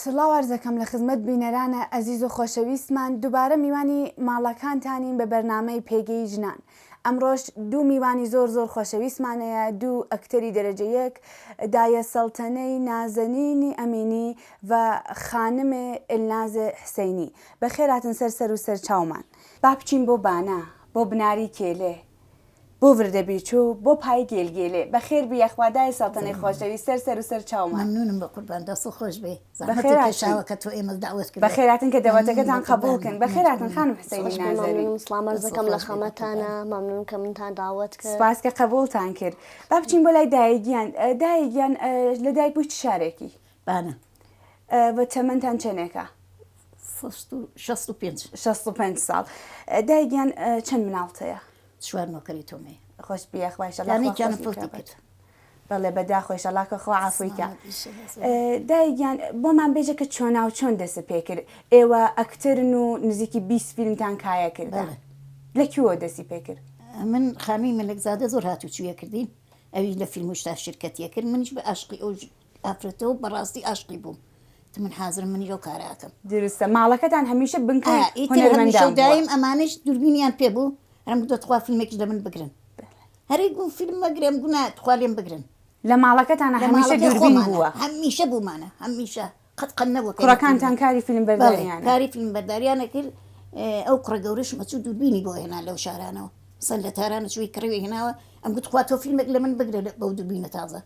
سڵاو عەرزەکەم لە خزمەت بینەرانە ئەزیز و خۆشەویستمان دوبارە میوانی ماڵەکانتانین بە بەرنامەی پێگەی ژنان ئەمڕۆش دوو میوانی زۆر زۆر خۆشەویستمانەیە دوو ئەکتەری دەرەجە یەک دایە سەڵتەنەی نازەنینی ئەمینی و خانمێ ئێلنازێ حسەینی بەخێراتن سەر سەر و سەر چاومان با بچین بۆ بانە بۆ بناری کێلێ بۆ وردە بیچو بۆ پای گێل گێلێ. بەخێر بیە خوا دایە سەڵتەنەی خۆشەوی سەر سەر و سەر چاومان. مەمنونم بەقوربان دەستت خۆش بێ زەحمەتت کێشاوە کە تۆ ئێمەت دەعوەت کردوە. بەخێر هاتن کە دەوەتەکەتان قەبوڵ کن. بەخێر هاتن خانم حسەینی نازەنین. زۆر مەمنونم سڵام عەرز دەکەم لە خەمەتانا مەمنون کە منتان داوەت کرد. سپاس کە قەبوڵتان کرد. با بچین بۆ لای دایە گیان دایە گیان لە دایک بوی چ شارێکی؟ بانە. بە تەمەنتان چەنێکە؟ شەست و پێنج. شەست و پێنج ساڵ. دایە گیان چەند مناڵت هەیە؟ چوار نۆکەری تۆمەی خۆش بیا خوشەڵانیان فڵتی کرد بەڵێ بەدا خۆشەڵاکە خۆ ئافریکە دایگیان بۆمان بێژە کە چۆناو چۆن دەست پێ کرد ئێوە ئەکتەرن و نزیکی 20 فیلمتان کایە کرد لە کووە دەستی پێ کرد من خانووی ملکزادە زۆر هاتوچویە کردین ئەوی لە فیلم شتا شرکەتیە کرد منیش بە ئاشقی ئەو ئافرەتە و بەڕاستی ئاشقی بووم. تە من حازرم منیش ئەو کارە ئەکەم. درستە ماڵەکەتان هەمیشە بنکەی ئا ئیتر هونەرمەندان هەمیشە و بووە. دایم ئەمانەیش دووربینیان پێ بوو ئەرم گوتە تخوا فیلمێکیش لە من بگرن. هەرەی گوو فیلم مەگرێم گوو نا تخوا لێم بگرن. لە ماڵەکەتانا لە هەمیشە ماڵەکەی دووربین خۆمانا بووە. هەمیشە بوومانە هەمیشە قەت قەت نەبووە کەی نەفیلمێک. کوڕەکانتان کاری فیلم بەڵێ بەرداریانە. کاری فیلم بەرداریان ئەکرد ئەو کوڕە گەورەشم ئەچوو دووربینی بۆ ئەهێنا لەو شارانەوە. مەسەن لە تاران ئەچووی کڕیوی ئەهێناوە ئەم گوت تخوا تۆ فیلمێک لە من بگرە لە بەو دووربینە تازە.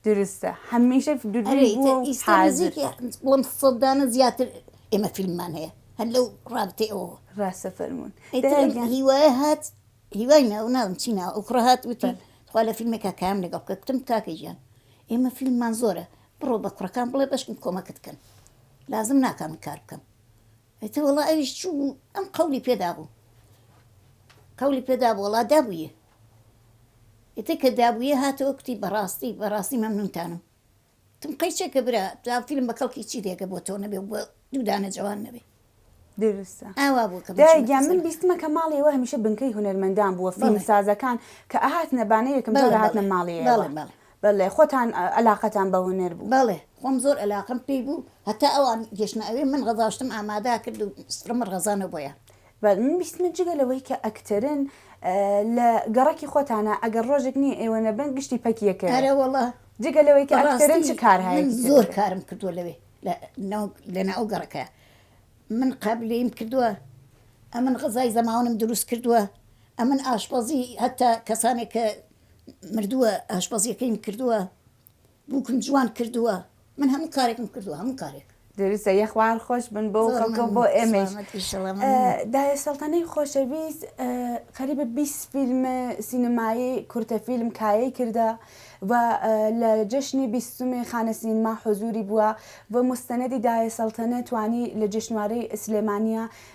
درستە هەمیشە دروی بووە و حازر بڵم سەدانە زیاتر ئێمە فیلممان هەیە هەر لەو ڕابتێ ئەوە ڕاستە فەرمونون هیوای هات هیوای ناو ناوم چی ناو ئەو کوڕە هات وتی خوا لە فیلمێکا کام لەگەڵ بکە کوتم کاکەژیان ئێمە فیلممان زۆرە بڕۆ بە کوڕەکان بڵێ بەشکم کۆمەکت کەن لازم ناکە من کار بکەم ئیتر وەڵا ئەویش چوو بوو ئەم قەولی پێ دابوو قەولی پێ دابوو وەڵا دابوویێ ئیتر کە دابوویێ هاتەوە کوتی بەڕاستی بەڕاستی مەمنونتانم تم قەیچەکە برا تا فیلم بە کەڵکی چی دێگە بۆ تۆ نەبێ بە دوو دانە جوان نەبێ دروستە ئاوا بوو کە بچمە دایە گیان من خزێنەکە. بیستمە کە ماڵی ئێوە هەمیشە بنکەی هونەرمەندان بووە بەڵێ. فیلمسازەکان کە ئەهاتنە بانە یەکەم بەڵێ جارە هاتنە بەڵێ ماڵی بەڵێ ئێوە بەڵێ بەلێ خۆتان ئەلاقەتان بە هونەر بوو. بەڵێ خۆم زۆر ئەلاقەم پێی بوو هەتا ئەوان گەشتنە ئەوێ من غەزاشتم ئامادا کرد و سڕمە ڕەزانە بۆیان. بەلێ من بیستمە جگە لەوەی کە ئەکتەرن لە گەڕەکی خۆتانا ئەگەر ڕۆژێک نیە ئێوە نەبن گشتی پەکی ئەکەوێ. ئەرێ وەڵا جگە لەوەی کە ئەکتەرن چ کارهایەکی تر ئەکەن. من زۆر کارم کردوە لەوێ لە ناو گەڕەکە من قابلەیم کردوە ئەمن غەزای زەماونم دروست کردوە ئەمن ئاشپەزی هەتا کەسانێک کە مردووە ئاشپەزیەکەیم کردووە بوکم جوان کردووە من هەموو کارێکم کردووە هەموو کارێک. دروستە یەخوار خۆش بن بۆ کەڵکە بۆ ئێمەش دایە سەڵتەنەی خۆشەویست قەریبە 20 فیلم سینەمایی کورتە فیلم کایەی کردە و لە جەشنی بیستمی خانە سینما حزوری بووە و مستەنەدی دایە سەڵتەنە توانی لە جشنوارەی سلێمانە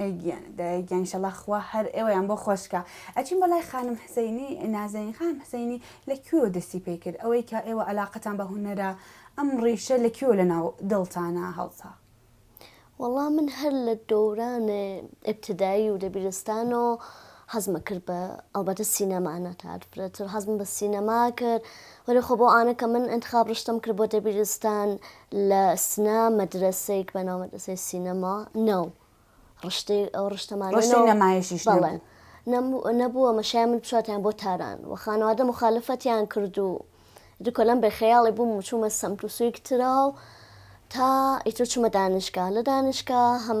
ئەی گیان دایە گیان ئیشەڵا خوا هەر ئێوەیان بۆ خۆشکا ئەچین بۆ لای خانم حسەینی نازەین خانم حسەینی لە کوێوە دەستی پێ کرد ئەوەی کە ئێوە عەلاقەتان بە هونەرە ئەم ڕیشە لە کوێوە لەناو دڵتانا هەڵتا؟ وەڵا من هەر لە دەوران ئیبتیدایی و دەبیرستانۆ حەزمە کرد بە ئەڵبەتە سینەما نەتات فرەتر حەزم بە سینەما کرد وەلی خۆ بۆ ئانە کە من انتخاب ڕشتم کرد بۆ دەبیرستان لە سنە مەدرەسەیک بە ناو مەدرەسەی سینەما نەو ڕشتەی ئەو ڕشتەمان ڕشتەی نەمایشیش بەڵێ نەبووە مەشای من بچاتیان بۆ تاران و خانەوادە مخالفەتیان کرد و دوکە لەم بێ خەیاڵی بووم و چوومە سەمتوسویک ترا و تا ئیتر چوومە دانشگا لە دانشگا هەم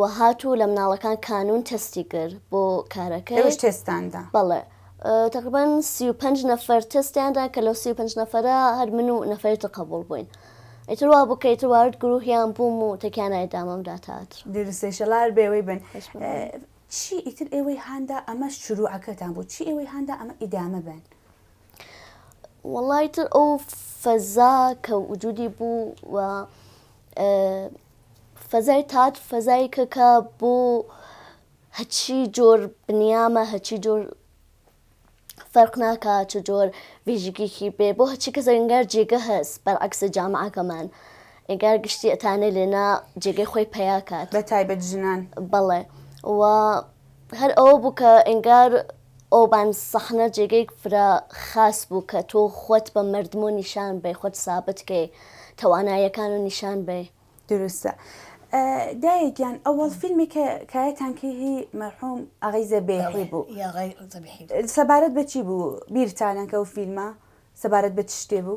وە هات و لە مناڵەکان کانون تەستی کرد بۆ کارەکەی. ئێوەش تێستتان دا؟ بەڵێ تەقریبەن سی و پەنج نەفەر تەستیان دا کە لەو سی و پەنج نەفەرە هەر من و نەفەری تر قەبووڵ بووین. ئیتر وا بوو کە ئیتر وارد گرووهیان بووم و تەکیانای دامم دا تاتر. دروستە ئیشەڵا هەر بێوەی بن. چی ئیتر ئێوەی هاندا ئەمە شرووعەکەتان بوو؟ چی ئێوەی هاندا ئەمە ئیدامە بێن؟ وەڵا ئیتر ئەو فەزا کە وجوودی بوو و فەزای تاد فەزایەکە کە بۆ هەچی جۆر بنیامە هەچی جۆر فەرق ناکا چ جۆر وێژگێکی بێ بۆ هەچی کە زەنگار جێگە هەست بەرعکسە جامعەکەمان ئەگار گشتی ئەتانێ لێنا جێگەی خۆی پیاکات بە تایبەت ژنان بەڵێ و هەر ئەوە بوو کە ئەنگار ئەوبان سەحنە جێگەیک فرە خاس بوو کە تۆ خوت بە مردمۆ نیشان بەی خوت سابت کەی تەوانایەکانۆ نیشان بەی. دروستە دایە گیان ئەوەڵ فیلمی کە کایەتان کەی هی مەرحوم ئاغەی زەبێحی بوو سەبارەت بە چی بوو بیرتانە کە ئەو فیلمە سەبارەت بە چ شتێ بوو؟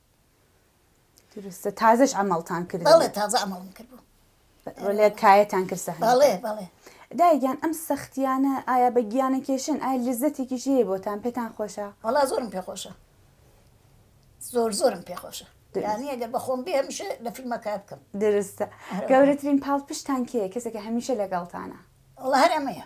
دروستە تازەش ئەمەڵتان کرد بەڵێ تازە ئەمەڵم کرد بوو لە کایەتان کرد سەحن بەڵێ بەڵێ دایگیان ئەم سەختیانە ئایا بە گیانە کێشن ئایا لزەتێکیش هەیە بۆتان پێتان خۆشە وەڵا زۆرم پێخۆشە زۆر زۆرم پێخۆشە یانی ئەگەر بەخۆم بێ هەمیشە لە فیلمە کار بکەم درستە گەورەترین پاڵ پشتان کێ کەسێکە هەمیشە لەگەڵتانە وڵا هەرەمەیە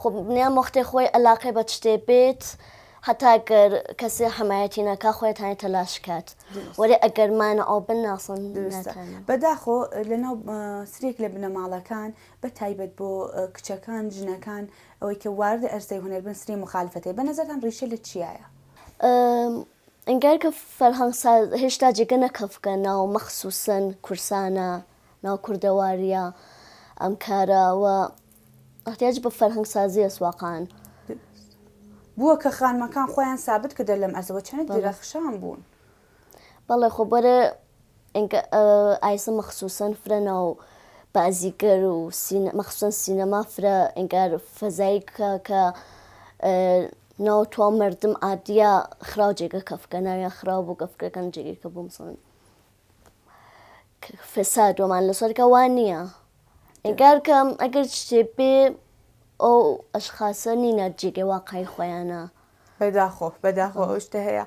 خۆ بنیام وەختێ خۆی ئەلاقەی بە تشتێ بێت هەتا گەر کەسێ حمایەتی ناکا خۆیتانی تەلاش کات وەێ ئەگەر مانە ئەو بن ناسن بەداخۆ لەناو سرێک لە بنەماڵەکان بە تایبەت بۆ کچەکان ژنەکان ئەوەی کە وارد ئەرزەی هوەر بن سری مخالفەتی بە نەزەران ڕیشە لە چیایە ئەنگار کە فەرهەنگ هێشتا جێگە نەکەفکە ناو مەخصوسن کورسانە ناو کوردەواریە ئەم کارەوە احتیاج بە فەرهەنگ سازی است واقعا. بوە کە خانمەکان خویان سابت کردە لەم ئەرزە وە چەنە درەخشان بون. بەڵێ خۆ بەرە ئینکە ئایسە مەخسوسەن فرە ناو بازیگەر و مەخسوسەن سینەما فرە ئینگار فەزایی کە کە ناو توا مردم ئادیا خراو جێگە کەفکە ناویان خراو بوو گەفکەکەن جێگەی کە بوو مسڵن فساد وەمان لەسەرکە وان نییە ئینکار کەم ئەگەر شتێ بێ ئەو ئەشخاسە نینە جێگەی واقعی خۆیانە بەداخۆ بەداخۆ ئەو شتە هەیە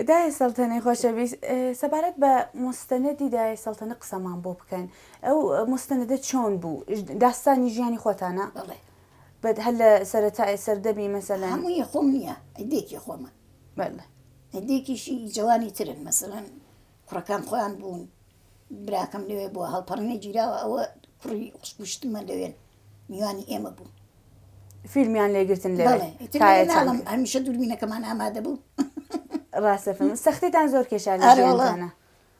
دای سەڵتەنەی خۆشەویست سەبارەت بە مستەنەدی دای سەڵتەنە قسەمان بۆ بکەن ئەو مستەنەدە چۆن بوو داستانی ژیانی خۆتانە بڵێ بەد هەر لە سەرەتای سەردەمی مەسەلا هەمووی خۆم نییە ئەدێکی خۆمە بەڵێ ئەدێکیشی جوانی ترن مەسەلەن کوڕەکان خۆیان بوون براکەم لەوێ بووە هەڵپەڕینە گیراوە ئەوە کوڕی خوشکوشتمە لەوێن میوانی ئێمە بوو فیلمیان لێگرتن لە هەمیشە دووربینەکەمان ئامادە بوو ڕاستە سەختێتان زۆر کێشان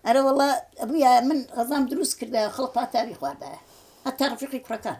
ئەرە وڵە ئەبووە من ڕزام دروست کردە خەڵ پاتاوی خواردایە هەتا ڕفیقی کوڕەکان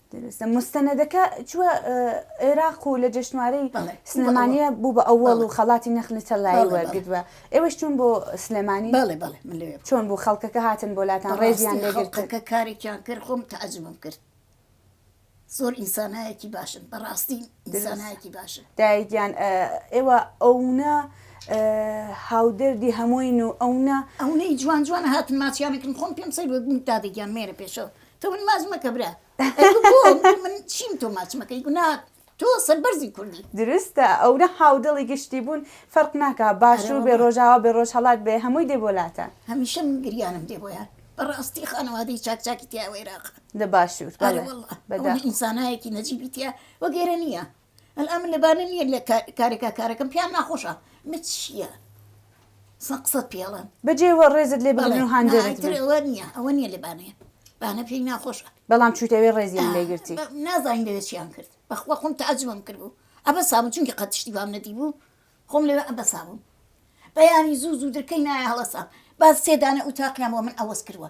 دروستە موستەنەدەکە چوە عێراق و لە جەشنوارەی سلێمانیە بوو بە ئەوەڵ و خەڵاتی نەخلی تەلایی وەرگدوە ئێوەش چون بۆ سلێمانی بەڵێ بەڵێ من لەوێ چۆن بوو خەڵکەکە هاتن بۆ لاتان ڕێزیان ڕاستی لێگرت خەڵکەکە کارێکیان کرد خۆم تەعجبم کرد زۆر ئینسانایەکی باشن بەڕاستی ئینسانایەکی باشن دایگیان ئێوە ئەونە هاودەردی هەمووین و ئەونە ئەونەی جوان جوان هاتن ماچیانەکن خۆم پێم سەیر بوو دادەگیان مێرە پێشەوە تۆ من ماچ مەکە برا من چیم تۆ ماچ مەکەی گوناهە تۆ سەربەرزی کوردی دروستە ئەو نە هاودڵی گشتی بوون فەرق ناکە باشوور بێ ڕۆژاوا بێ ڕۆژ هەڵات بێ هەمووی دێ بۆ لاتە هەمیشە من گریانم دێ بۆیان بەڕاستی خانەوادەی چاکچاکی تیاوەێراق لە باشوور ئینسانایەکی نەجیبیتە وەگەرە نییە ئەلئان لەبارە نیە لە کارێکا کارەکەم پێیان ناخۆشە مت چیە سە قسەت پێڵێم بەجێ وە ڕێزت لێ بڵێ و هاندێرت بێ. ئەوە نیە ئەوە نیە لە بانەیە بانە پێی ناخۆشە بەڵام چووتەوێ ڕێزیان لێگرتی نازانین لەوێ چیان کرد بەخوا خۆم تەعجبم کرد بوو ئەبە سابوو چونکی قەت شتی بام نەدی بوو خۆم لەوێ ئەبە سابوو بەیانی زوو زوو درکەی نایە هەڵەسا باز سێدانە ئوتاقیان بۆ من ئەوەز کردوە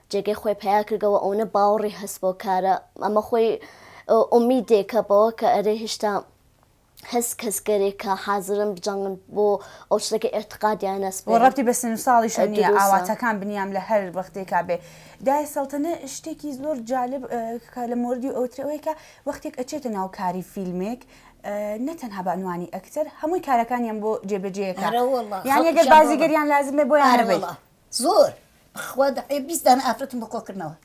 جێگەی خۆی پەیا کردەوە ئەونە باوەڕی هەست بۆ کارە ئەمە خۆی ئومیدێکە بەوە کە ئەرێ هێشتا هەست کەس گەرێک کە حازرن بجەنگن بۆ ئەو شتەکە ئێعتقادیان نەس بۆ ڕەتی بە سن و ساڵیشە نیە ئاواتەکان بنیام لە هەر وەختێکا بێ دای سەڵتەنە شتێکی زۆر جالب کە لە مردی ئەوترەوەی کە وەختێک ئەچێتە ناو کاری فیلمێک نەتەنها بەنوانی ئەکتەر هەمووی کارەکانیان بۆ جێبەجێەکە یان یەگەر بازیگەریان لازمێ بۆ یانەوەی زۆر بەخوا دەعێ بیست دانە ئافرەتم بۆ کۆکردنەوە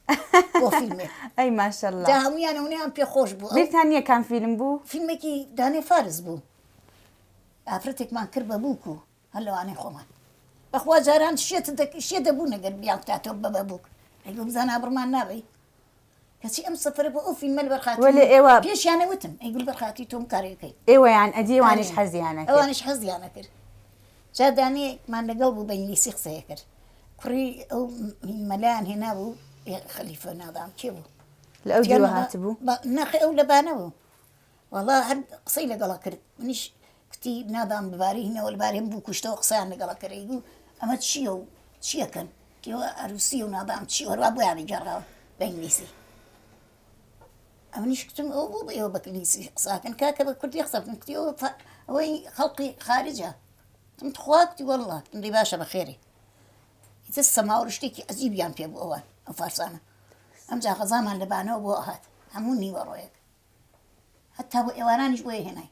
بۆ فیلمێک ئەی ماشەڵڵا دا هەموویانە ونیان پێ خۆش بوو ئەو بیرتان نییە کام فیلم بوو فیلمێکی دانێ فارس بوو ئافرەتێکمان کرد بە بووک و هەر لەوانەی خۆمان بەخوا جاران شێت دەک شێ دەبوو نەگەر بیان بکاتەوە بە بە بووک ئەی بزانە بڕمان نابی کەچی ئەم سفرە بۆ ئەو فیلمە لەبەر خاتری وەلێ ئێوە پێشیانە وتم ئەی گول بەر خاتری تۆم کارێ بکەیت ئێوەیان ئەدی ئێوانیش ئەرێ حەزیانە کرد ئەوانیش حەزیانە کرد جا دانەیەکمان لەگەڵ بوو بە ئینگلیسی قسەیە کرد کوڕی ئەو م- مەلایان هێنا بوو یە خەلیفە نادام کێ بوو لە ئەو جگە دیوە مەلا هاتبوو با- ناخی ئەو لە بانە بوو وەڵا هەر قسەی لەگەڵ ئەکرد منیش کوتی نابام ببارینەوە لەبارێن بوو کوشتەوە قسەیان لەگەڵ ئەکەرد ئەیگوو ئەمە چییە و چییەکەن کێوە ئەروسی و نابام چی هەروا بۆیانی گەڕاوە بە ئینگلیسی ئەمنیش کتم ئەو بۆ بە ئێوە بە ئینگلیسی قساکەن کاکە بە کوردی قسە بکەن کوتی ئەوە فا- ئەوەی خەڵقی خارجە تم تخوا کوتی وەڵڵا تم دەی باشە بە خێرێ ئیتر سەماوە شتێکی عەجیبیان پێ بوو ئەوان ئەو فارسانە ئەمجا غەزامان لە بانەوە بۆ هات هەموو نیوەڕۆیەک هەتا بۆ ئێوارانیش بۆیە هێنای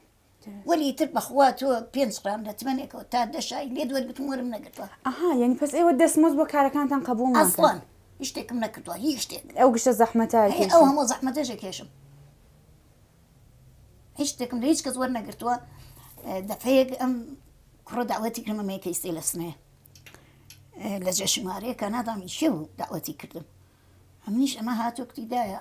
وەلی ئیتر بەخوا تۆ پێنج قرام لە تمەنێکەوە تا دە شای لێت وەرگتم وەرم نەگرتووە ئەها یعنی پس ئێوە دەستمۆز بۆ کارەکانتان قبول ناکەن ئەسڵان هیچ شتێکم نەکردووە هیچ شتێک ئەو گشتە زەحمەتە هەیە ئەو کێشن هەموو زەحمەتەشە کێشم هیچ شتێکم لە هیچ کەس وەرنەگرتووە دەفەیەک ئەم کوڕە داوەتی کردمە مێکەیستی لە سنێ لە جێ شمارەیە کانادامی شێ بوو داوەتی کردم ئەمنیش ئەمە هاتوو کتیدایە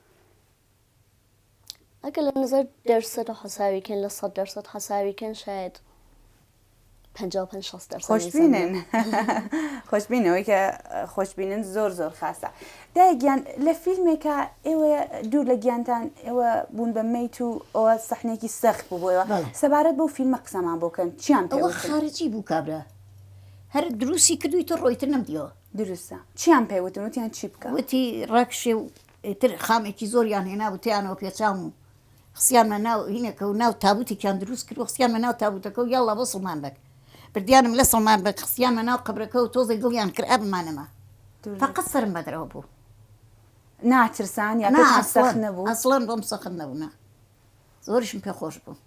ئەگە لە نظر دەرسەت و حەساویکەن لە سەد دەرسەت حەساویکەن شاید خۆشببینن خۆشببینەوەی کە خۆشببینن زۆر زۆر خاستە دایگیان لە فیلمێکە ئێوە دوور لە گیانتان ئێوە بوون بە میت و ئەوە سەحنێکی سەخت بووەوە سەبارەت بۆ فیلمە قسەمان بۆکەن چیان پێوە خارجی بوو کابرا هەر دروستی کردوی تە ڕۆیتر نەمدیەوە دروستە چیان پێوتن وتیان چی بکە وتی ڕاکشێ و ئیتر خامێکی زۆریان هێنا و تێیانەوە پێچام و خستیانمە ناو هینەکە و ناو تابوتێکیان دروست کرد و خستیانمە ناو تابوتەکە و یاڵڵا بۆ سڵمان بەگ بردیانم لە سڵمان بەگ خستیانمە ناو قەبرەکە و تۆزێ دڵیان کرا بمانەما فەقەت سەرم بە درەوە بوو ناترسان یا نا پێتان سەخت ئەسڵەن نەبوو؟ ئەسڵەن بۆم سەخت نەبوو نا زۆریشم پێ خۆش بوو.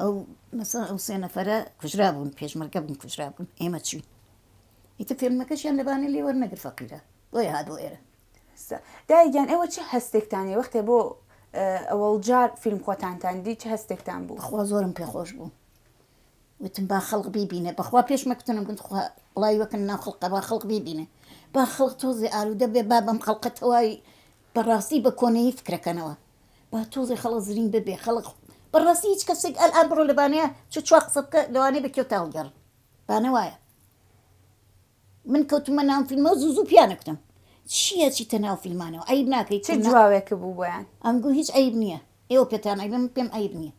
ئەو مەسەڵەن ئەو سێ نەفەرە کوژرابوون پێشمەرگە بوون کوژرابوون ئێمە چووین ئیتر فێلمەکەشیان لەبانە لێ وەرنەگر فەقیرە بۆیە هات بۆ ئێرە دایگیان ئێوە چه هەستێکتانی وەختێ بۆ ئەوەڵجار فیلم خۆتانتان دی چه هەستێکتان بوو خوا زۆرم پێخۆش بوو وتم با خەڵق بیبینێ بەخوا پێشمەکتنم گوت خوا وڵی وەکن ناو خەڵقە با خەڵق بیبینێ با خەڵک تۆزێ ئالوودە بێ با بەم خەڵقە تەواوی بەڕاستی بە کۆنەی فکرەکەنەوە با تۆزێ خەڵک زرینگ ببێ خەڵک بەڕاستی هیچ کەسێک ئەلئان بڕۆ لە بانەیە چ چوار قسە بکە لەوانەیە بە کێو تاوگەڕ بانە وایە من کەوتمە ناو فیلمەوە زوو زوو پیانە کوتم چییە چیتە ناو فیلمانەوە ئەیب ناکەیت چ جوابێک بوو بۆیان ئەم گو هیچ ئەیب نییە ئێوە پێتان ئەیبە من پێم ئەیب نییە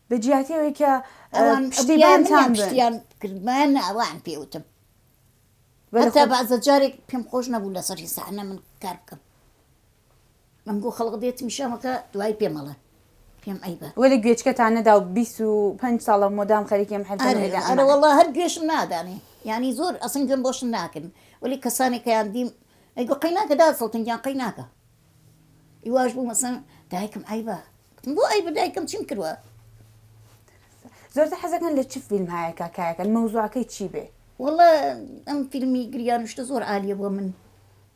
لە جیاتیەوەی کە ئەوان پشتیبان تان پشتیان کردمان ئەوان پێوتم بەتا بازە جارێک پێم خۆش نەبوو لەسەر هیسانە من کار بکەم من گو خەڵق دێتمی شەمەکە دوای پێ مەڵێ پێم عەیبە. وەلێ گوێچکەتان نەدا و بیست و پەنج ساڵە مۆدام خەریکی ئەم حەرفەن ئەرێ ئەرێ ئەرێ وەڵا هەر گوێشم نادانێ یانی زۆر ئەسن گوێم بۆشت ناکرد وەلێ کەسانێک کەیان دیم ئەی گو قەی ناکە داد سەڵتن گیان قەی ناکە ئیواش بوو مەسەن دایکم عەیبە گوتم بۆ عەیبە دایکم چیم کردوە زۆرتر حەزەکەن لە چ فیلم هایە کاکایەکەن مەوزوعەکەی چی بێ. وەڵا ئەم فیلمی گریان و شتە زۆر عالیە بۆ من.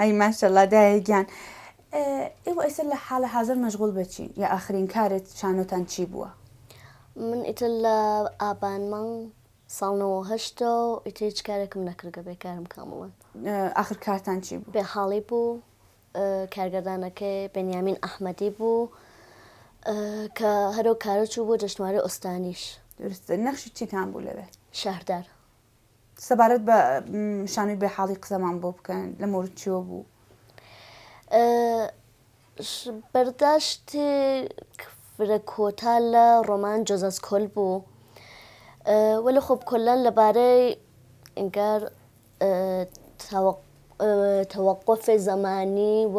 ئەی ماشەڵا دایە گیان ئێوە ئێستا لە حاڵە حازر مەشغول بەچی یا ئاخرین کارت شانۆتان چی بووە؟ من ئیتر لە ئابان مانگ ساڵنەوە هەشتا و ئیتر هیچ کارێکم نەکردگە بێ کارم کامڵن ئاخر کارتان چی بوو؟ بێ حاڵی بوو کارگەردانەکەی بەنیامین ئەحمەدی بوو کە هەرو کارە چوو بۆ جەشتواری ئۆستانیش درستە نەخشی چیتان بوو لەوێ؟ شەهردار سەبارەت بە شانوی بێ حاڵی قسەمان بۆ بکەن لە مورد چۆ بوو بەرداشت فرە کۆتا لە ڕۆمان جۆزەس کۆل بوو وە لە خۆب کۆلان لەبارەی ئەنگار تەوەقفێ زەمانی و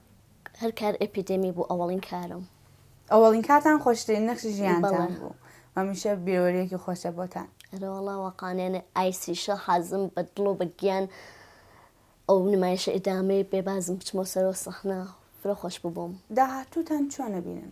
هەر کار ئێپیدێمی بوو ئەوەڵین کارم. ئەوەڵین کاتان خۆشترین نەخشی ژیانتان بوو مەمیشە بیرۆریەکی خۆشە بۆتان ئەرەوەڵا وەقانێنە ئایسیشە حازم بە دڵۆ بە گیان ئەو نمایشە ئیدامەی بێبازم بچمۆ سەرۆ سەخنا فرە خۆش ببووم داهاتووتان چۆنە بینن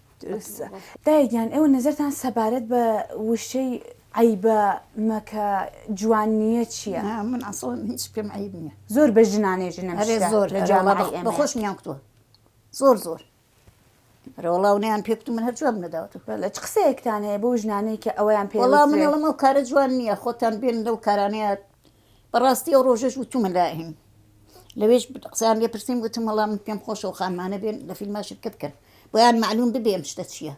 دروستە دایە گیان ئێوە نەزەرتان سەبارەت بە وشەی عیبە مەکە جوان نییە چییە؟ نا من ئەسڵەن هیچ پێم عیب نییە زۆر بە ژنانێ ژنە هەرێ مشتە زۆر لە جامعەی ئەرێوەڵا ئێمەیە. بەخۆش میان کتووە زۆر زۆر رەوڵاو نیان پێ کتو من هەر جواب نەداوەتە بەڵێ چ قسەیەکتان هەیە بۆ ژنانەی کە ئەویان پێ وەڵا من وترێ؟ ئەڵێم ئەو کارە جوان نییە خۆتان بێن لەو کارانەیە بەڕاستی ئەو ڕۆژەش وتومە لائیم لەوێش قسەیان لێ پرسیم وتم وەڵا من پێم خۆشە و خانمانە بێن لە فیلما شرکەت بکەن بۆیان معلوم ببێ ئەم شتە چییە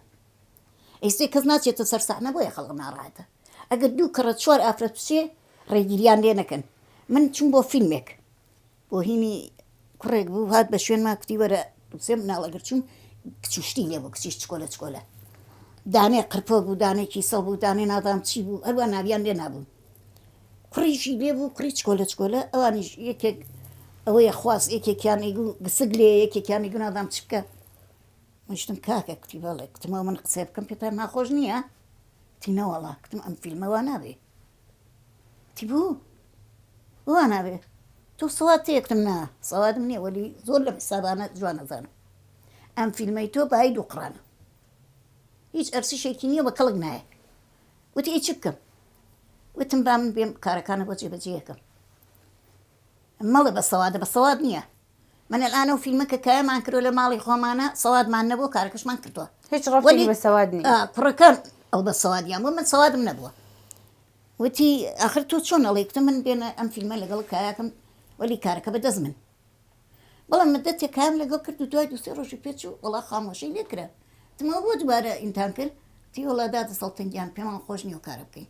ئیسێ کەس ناچێتە سەر سەحنە بۆیە خەڵک ناڕاحەتە ئەگەر دوو کەڕە چوار ئافرەت بچێ ڕێگیریان لێ نەکەن من چووم بۆ فیلمێک بۆهیمی کوڕێک بوو هات بە شوێنما کوتی وەرە سێ مناڵ ئەگەر چوون کچ و شتی لێ بوو کچیش چکۆلە چکۆلە دانێ قرپۆک بوو دانێ کیسەڵ بوو دانێ نازام چی بوو هەروا ناویان لێ نابوو کوڕیشی لێ بوو کوڕی چکۆلە چکۆلە ئەوانیش یەکێک ئەوەیە خواست یەکێکیان ئیگو گسک لێ یەکێکیان ئیگو نازام چ بکە مشتم کاکە کوتی بەڵێ کوتمەوە من قسە بکەم پێتان ناخۆش نییە تی نەوەڵا کوتم ئەم فیلمەوە نابێ تیبوو وا نابێ تۆ سەواد تێکتم نا سەوادم نییە وەلی زۆر لە حسابانە جوان ئەزانم ئەم فیلمەی تۆ بەهای دوو قڕانە هیچ ئەرسیشێکی نییە بە کەڵک نایە وتی ئەی چ بکەم وتم با من بێم کارەکانە بۆ جێبەجێ یەکەم مەڵێ بە سەوادە بە سەواد نیە من الان ئەو فیلمە کە کایەمان کردوە لە ماڵی خۆمانە سەوادمان نەبوو کارەکەشمان کردوە هیچ ڕەفتی بە سەواد نیە ئا کوڕەکان ئەو بە سەوادیان بوو من سەوادم نەبووە وتی ئاخر تۆ چۆن ئەڵێی گوتم من بێنە ئەم فیلمە لەگەڵ کایەکەم وەلی کارەکە بە دەست من بەڵام مدەتێک کام لەگەڵ کرد و دوای دوو سێ ڕۆژی پێ چوو وەڵا خامۆشی لێ کرا گوتم ئەوە بۆ دوبارە ئینتان کرد وتی وەڵا دادە سەڵتنگیان پێمان خۆش نیە و کارە بکەین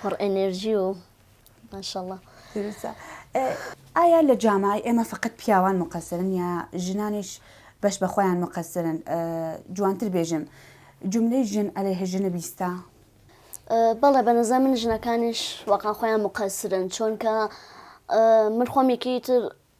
پڕ ئەنێرجی و ماشەڵا. پیروزە. ئایا لە جامای ئێمە فەقەت پیاوان مقەسرن یا ژنانیش بەش بە خۆیان مقەسرن جوانتر بێژن جملەی ژن ئەلەیه ژنە بیستە؟ بەڵێ بە نظر من ژنەکانیش وەقا خۆیان مقەسرن چۆنکە من خۆم یەکەی تر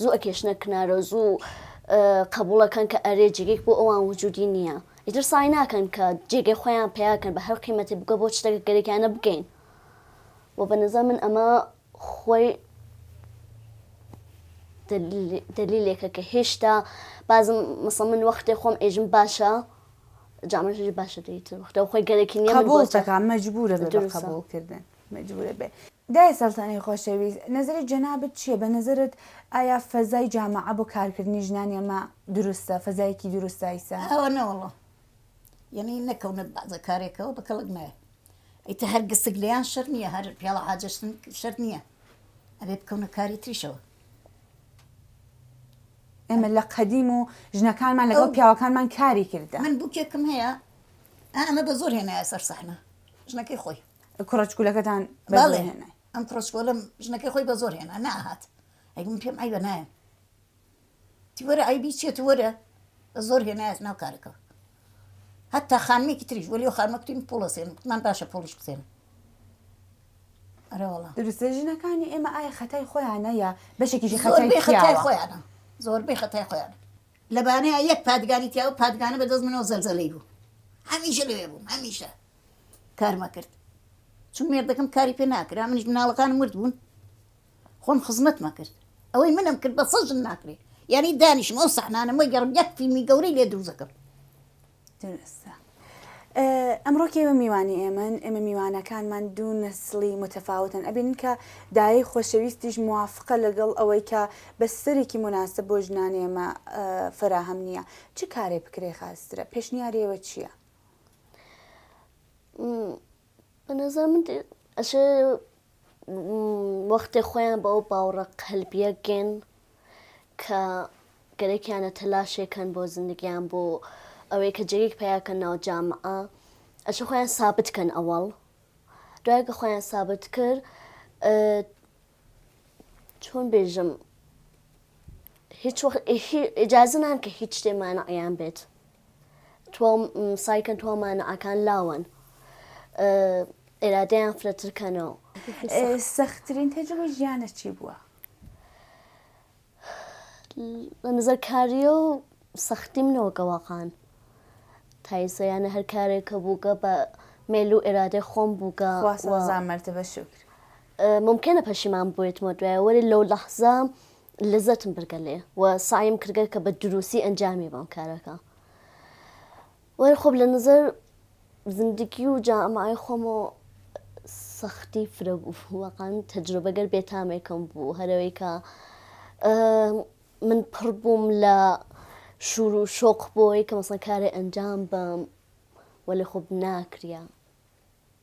زوو ئەکێشنە کنارەو زوو قەبوڵ ئەکەن کە ئەرێ جێگەیەک بۆ ئەوان وجودی نییە ئیتر سەعی ناکەن کە جێگەی خۆیان پەیا بکەن بە هەر قیمەتێک بگە بۆ شتەکە گەرەکیانە بگەین و بە نەزان من ئەمە خۆی دلیلێکە کە هێشتا بازم مەسە من وەختێ خۆم ئێژم باشە جامەژری باشە دەیتر وەختەوە خۆی گەرەکی نیە بۆ تەکان مەجبورە بە قبولکردن. مەجبورە بێ. دایە سەلتەنەی خۆشەویست نەزەری جەنابت چیە بە نەزەرت ئایا فەزای جامەعە بۆ کارکردنی ژنانی ئەمە دروستە فەزایەکی دروستە ئیسە؟ ئەوە نە وەڵا یەنی نەکەونە بازە کارێکەوە بە کەڵک نایە ئیتە هەر گسک لێیان شەر نییە هەر پیاڵە حاجەشتن شەر نییە ئەبێ بکەونە کاری تریشەوە ئێمە لە قەدیم و ژنەکانمان لەگەڵ پیاوەکانمان کاری کردە من بووکێکم هەیە ئەمە بە زۆر هێنایە سەر سەحنە ژنەکەی خۆی کوڕە چکولەکەتان بەڵێ ئەم کوڕچکۆلم ژنەکەی خۆی بە زۆر هێنا ناهات ئەگوم پێم ئای بە نایە تیوەرە ئایبی چێت وەرە بە زۆر هێنایەت ناو کارەکەەوە هەتا خانمێکی تریش وەلی خانمەکتین پۆڵەسێن من باشە پۆلیش بسێن دروستە ژنەکانی ئێمە ئایا خەتای خۆیانە یا بەشێکیشی خەتای خەتای خۆیانە زۆربەی خەتای خۆیان لە بانەیا یەک پادگانی تیا بوو، پادگانە بە دەست منەوە زەلزەلەی بوو. هەمیشە لەوێ بووم، هەمیشە کارم ئەکرد. چون مێردەکەم کاری پێ ناکرا، منیش مناڵەکانم ورد بوون، خۆم خزمەتم ئەکرد. ئەوەی منم کرد بە سەد ژن ناکرێ. یانی دانیشم ئەو سەحنانەم وەرگێڕم، یەک فیلمی گەورەی لێ دروست ئەکەم. دروستە ئەمڕۆ کێوە میوانی ئێمەن ئێمە میوانەکانمان دوو نەسلی متەفاوتن ئەبین کە دایە خۆشەویستیش موافقە لەگەڵ ئەوەی کە بەستەرێکی مناسب بۆ ژنانی ئێمە فراهەم نییە چ کارێ بکرێ خاسترە پێشنیارەوە چییە؟ بەنەزان من ئەشێ وەختێ خۆیان بە ئەو باوڕە قەلبیە گێن کە گەرەکیانە تەلاشێکەن بۆ زندگیان بۆ ئەوەی کە جێک پیاکە ناو جامە ئەشە خۆیان سابت کەن ئەوەڵ دوای کە خۆیان سابت کرد چۆن بێژم هیچ ئجازنان کە هیچ شتێمانە ئەیان بێت توام سای کەن توا مانا ئەکان لاوەن ئێرادەیان فرەتر کەنەوە سەختترین تەجروبە ژیانە چی بووە؟ لە نظر کاریە و سەختی منەوە گەواقان تایسەیانە هەر کارێک کە بووگە بە مێل و ئێرادەی خۆم بووگە وازان مرتبە شکر ممکنە پەشیمان بێتمە دوایە وەری لەو لەحزە لەزەتم برگە لێ و سەعیم کردگە کە بە دروسی ئەنجامی بەم کارەکە وەر خۆب لە نظر زندگی و جامعی خۆمۆ سەختی فرە بوو وەقان تەجروبەگەر بێتامێکم بوو هەرەوەی کە من پڕ بووم لە شور و شۆق بۆی کە مەسەن کارێ ئەنجام بەم وەلی خۆب ناکرە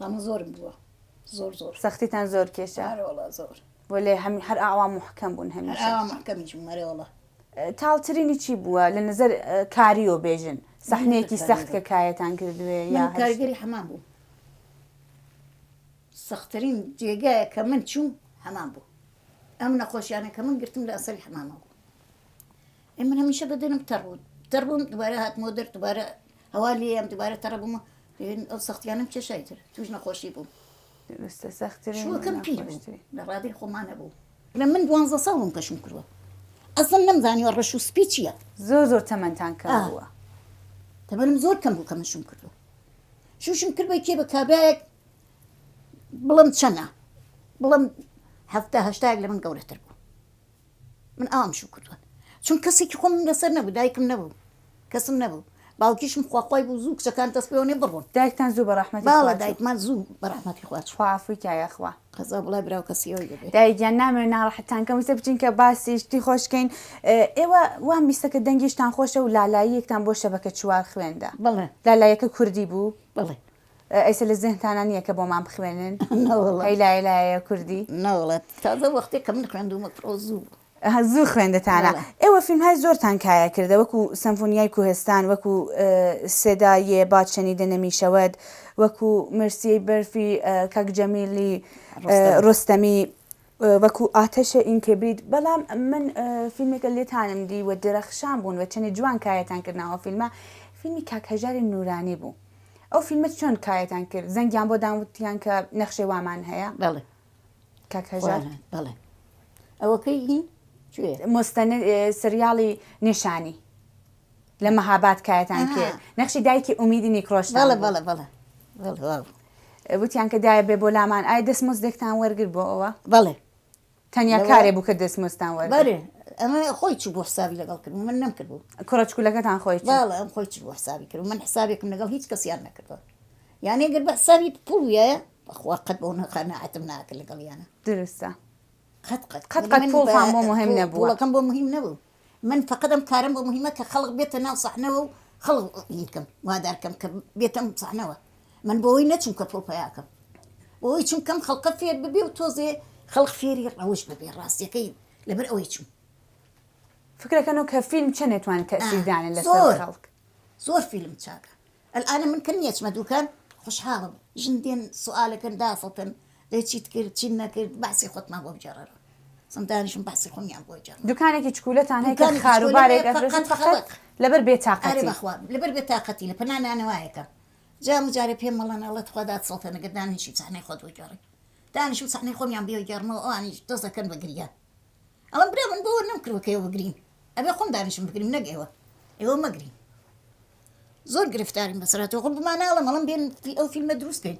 مامە زۆرم بووە زۆر زۆر سەختیتان زۆر کێشە ئەرە وەڵا زۆر وەلێ هەم هەر ئاوا محکەم بوون هەر هەمیشە ئاوا مەحکەمیش بووم ئەرێ وەڵا تاڵترینی چی بووە لە نظر کاریۆ بێژن سەحنەیەکی سەخت کە کایەتان کردوێ یا من کارگەری حەمام بووم سەختترین جێگایە کە من چووم حەمام بوو ئەم نەخۆشیانە کە من گرتم لە ئەسەری حەمامە بوو ئێ من هەمیشە بەدەنم تەڕ بوو تەڕ بووم دوبارە هاتمەوە دەر دوبارە هەوا لێیەم دوبارە تەڕ بووم و دەبێت ئەو سەختیانەم کێشا ئیتر توش نەخۆشی بووم دروستە سەختترین و شووەکەم پیر بوو ناخۆشترین لە ڕادەی خۆما نەبوو لە من دوانزە ساڵ بووم کە شووم کردووە ئەسڵەن نەمزانیوە ڕەش و سپی چییە زۆر زۆر تەمەنتان کەم ئا بووە. تەمەنم زۆر کەم بوو کە من شووم کردووە شووشم کرد بە کێ بە کابرایەک بڵێم چەنە بڵێم حەفتا هەشتایەک لە من گەورەتر بوو. من ئاوام شوو کردووە چون کەسێکی خۆم لەسەر نەبوو دایکم نەبوو کەسم نەبوو باوکیشم خواخوای بوو زوو کچەکان دەست پێوەێ بڕۆن دایکتان زوو بەڕەحمەتی باڵە دایکمان زوو بەڕەحمەتی خواچ خوافوی کا یاخوا قەزا بڵای براو کەسیەوەی دەبێت دایگیان نامێ ناڕەحەتان کەم ویسە بچین کە باسی شتی خۆشکەین ئێوە وام بیستە کە دەنگیشتان خۆشە و لالاییەکتان بۆ شەبەکە چوار خوێندە بڵێ لالایەکە کوردی بوو بڵێ ئێسە لە زهنتانا نییە کە بۆمان بخوێنن؟ نەوەڵڵا. هەی لایە لایەیە کوردی؟ نەوەڵڵا تازە وەختێ کە من خوێندوومە پڕۆ زوو بوو. ئەها زوو خوێندتانە. بەڵێ. ئێوە فیلمهای زۆرتان کایە کردە وەکوو سەمفۆنیای کوهستان، وەکوو سێدا یێ باد شەنیدە نەمیشەود، وەکوو مرسیەی بەرفی کاک جەمیلی ڕۆستەمی. ڕۆستەمی. وەکو ئاتەشە ئین کبریت بەڵام من فیلمێکە لێتانم دی و درەخشان بوون و چەنێ جوان کایەتان کرد ناوە فیلمە فیلمی کاک هەژاری نورانی بوو ئەو فیلمە چۆن کایەتان کرد زەنگیان بۆ داوتیان کە نەخشێ وامان هەیە بەڵێ کاک هەژار بەڵێ ئەوەکەی هی مستەن سریاڵی نیشانی لە مەهابات کایەتان کرد نەخشی دایکی ئومیدی نیکڕۆش بەڵێ بەڵێ بەڵێ وتیان کە دایە بێ بۆ لامان ئای دەستمۆزدێکتان وەرگر بۆ ئەوە بەڵێ تەنیا کارێ بوو کە دەستمۆستان وەر ئەمە خۆی چ بۆ حسابی لەگەڵ کرد من نم کردبوو کوڕچکولەکەتان خۆی باڵە ئەم خۆی چ بۆ حسابی کرد من حسابێکم لەگەڵ هیچ کەسیان نەکردەوە یانێ گەر بە حسابی پوڵە بەخوا قەت بۆ نەخەنەعاتم ناکە لەگەڵیانە درستە قەت قەت قەت قەت پوڵ بۆ مهم نەبووەکەم بۆ مهم نەبوو من فەقەت ئەم کارەم بۆ موهیمە کە خەڵق بێتە ناو سەحنەوە و خەڵق ی بکەم وادار بکەم کە بێتە ئەم سەحنەوە من بۆوەی نەچووم کە پڕو پەیا بکەم بۆوەی چووم کەم خەڵقە فێر ببێ و تۆزێ خەڵق فێری ڕەوش ببێ ڕاستیەکەی لەبەر ئەوەی چووم. فکرەکەنو کە فیلم چەنێ توانی تەئسیر دانێ لەسەر خەڵک. زۆر فیلم چاکە. الان من کە نیەچمە دوکان خوشحالم ژن دێن سوالەکەن دافڵتن دەی چیت کرد چیت نەکرد بەعسی خۆتمان بۆ بجێڕەرەوە سم دانیشم بەعسی خۆمیان بۆ جێڕم دوکانێکی چکولەتان هەیە کە دوکانێکی خارو چکۆلە بارێک هەیە ئەفرۆشن فەقەت فەقەت خەڵک لەبەر بێ ئەرێ تاقەتی. بەخوا لەبەر بێ تاقەتی لە پەنا نانەوایەکەم جام و جارێ پێم مەڵێن ئەڵێ تخوا دات سڵتێنە گەر دانەنیشی چەحنەی خۆت بۆ گێڕی دانیشم چەحنەی خۆمیان بیۆ گێڕمەوە ئەوانیش دەست دەکەن بە گریان. ئەوە برا من بۆ وەرنەم کردوە کە ئێوە بگرین ئەبێ خۆم دانیشم بگریم نەک ئێوە ئێوە مەگرین زۆر گرفتارین بەسەرا تۆ خۆ بماناڵە مەڵم بێن ئەو فیلمە دروست بێن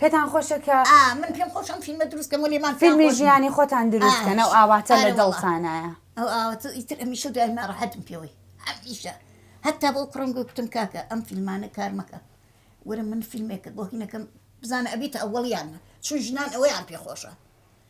پێتان خۆشە کە ئا من پێم خۆش ئەم فیلمە دروست کەم وەلی من فیلمی ژیانی خۆتان دروست کەن ئەو ئاواتە لە دڵتانایە ئەو ئاواتە ئیتر ئەمیشە دوای ناڕەحەتم پێوەی ئەمیشە هەتا بۆ کوڕم گوتم کاکە ئەم فیلمانە کار مەکە وەرە من فیلمێکە بۆ هینەکەم بزانە ئەبیتە ئەوەڵیانە چون ژنان ئەوەیان پێخۆشە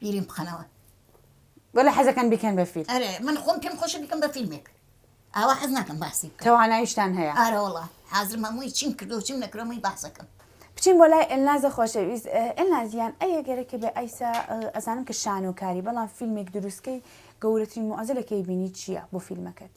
بیریم بخەنەوە. وەلا حەزەکەن بیکەن بە فیلم. ئەرێ من خۆم پێم خۆشە بیکەم بە فیلمێک. ئاوا حەز ناکەم باسی بکەم. توانایشتان هەیە. ئارە وەڵا حازرم هەمووی چیم کردوە چیم نەکردوە هەمووی باس ئەکەم. بچین بۆ لای ئێلنازە خۆشەویست. ئێلناز گیان ئەی ئەگەرە کە بێ ئایسە ئەزانم کە شانۆکاری بەڵام فیلمێک دروست کەی گەورەترین موعزلە کەی بینی چیە بۆ فیلمەکەت؟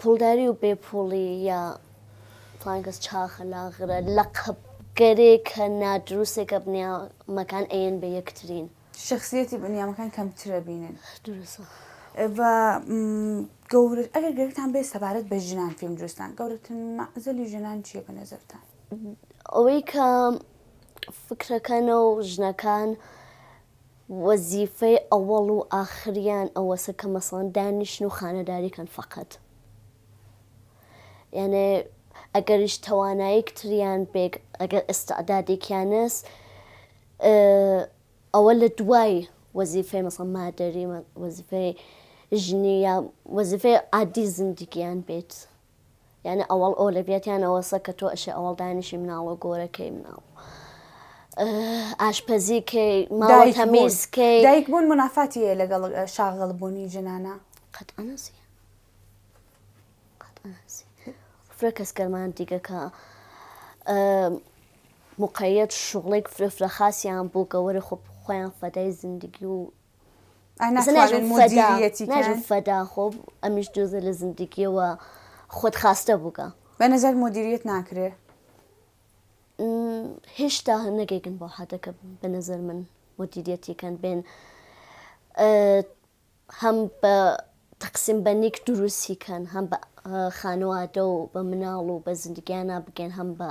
پوڵداری و بێ پوڵی یا فڵان کەس چاخە لاغرە لەقەب گەرێکە نادروستێکە بنیامەکان ئەیەن بە یەکترین. شەخسیەتی بنیامەکان کەمترە بینن. دروستە. و گەورە ئەگەر گرفتان بێ سەبارەت بە ژنان فیلم دروستان گەورەتن مەعزەلی ژنان چیە بە نەزەرتان؟ ئەوەی کە فکرەکەنە و ژنەکان وەزیفەی ئەوەڵ و ئاخریان ئەوەسە کە مەسەڵەن دانیشن و خانەداری کەن فەقەت یانێ ئەگەریش تەوانایک تریان بێک ئەگەر ئستعدادێکیانەس ئەوە لە دوای وەزیفەی مەسەڵ مادەری وەزیفەی ژنی یا وەزیفەی عادی زندگیان بێت یانە ئەوەڵ ئەو لە بێتیان ئەوەسە کە تۆ ئەشێ ئەوەڵ دانیشی مناڵۆ گۆرەکەی مناڵ ئاشپەزی کەی ماڵ تەمیز کەی دایک بوون منافاتی هەیە لەگەڵ شاغڵ بوونی جنانە قەت ئەنەسی فرە کەس گەرمان دیگەکە مقەت شغڵێک فرە فرە خاصیان بۆ گەوەرە خۆ خۆیان فەدای زندگی و ناجم فەدا خۆ ئەمیش جۆزە لە زندگیەوە خۆت خاستە بووگە بە نەزار مدیریت ناکرێ هێشتا نەگەیگن بۆ حدەکە بە نەزەر من مدیریەتی کەن بێن هەم بە تەقسیم بە نیک دروستی کەن هەم بە خانوادە و بە مناڵ و بە زندگیانە بگەن هەم بە